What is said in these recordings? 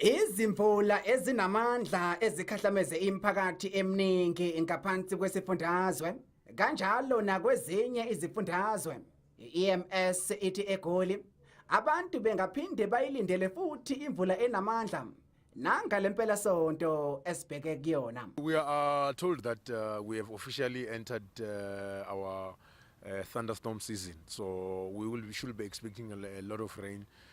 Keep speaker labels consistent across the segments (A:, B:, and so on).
A: Izimvula
B: ezinamandla ezikhahlameze imiphakathi eminingi ngaphansi kwesifundazwe kanjalo nakwezinye izifundazwe i-EMS ithi eGoli abantu bengaphinde bayilindele futhi imvula enamandla nangale mpelasonto esibheke kuyona We are
C: told that uh, we have officially entered uh, our uh, thunderstorm season so we will we should be expecting a, a lot of rain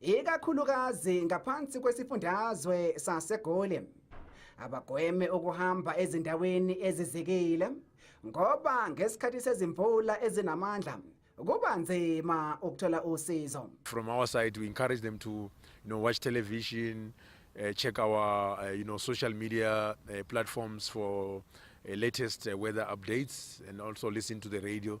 B: ikakhulukazi ngaphansi kwesifundazwe saseGoli abagweme ukuhamba ezindaweni ezizikile ngoba ngesikhathi sezimvula ezinamandla kuba nzima ukuthola usizo from our side we
C: encourage them to you know watch television uh, check our uh, you know social media uh, platforms for uh, latest uh, weather updates and also listen to the radio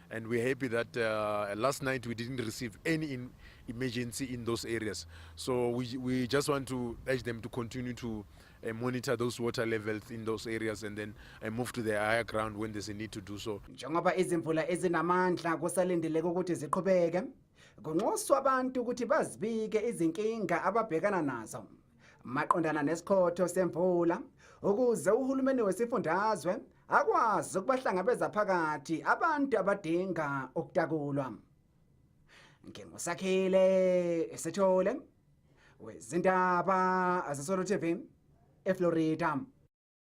C: and we're happy that uh, last night we didn't receive any in emergency in those areas. So we, we just want to urge them to continue to uh, monitor those water levels in those areas and then uh, move to the higher ground when there's a need to do so. Njengoba izimvula
B: ezinamandla kusalindeleke ukuthi ziqhubeke, kunxuswa abantu ukuthi bazibike izinkinga ababhekana nazo. maqondana nesikhotho semvula ukuze uhulumeni wesifundazwe akwazi ukubahlangabeza phakathi abantu abadinga ukutakulwa ngingusakhile esethole wezindaba azesolo TV eFlorida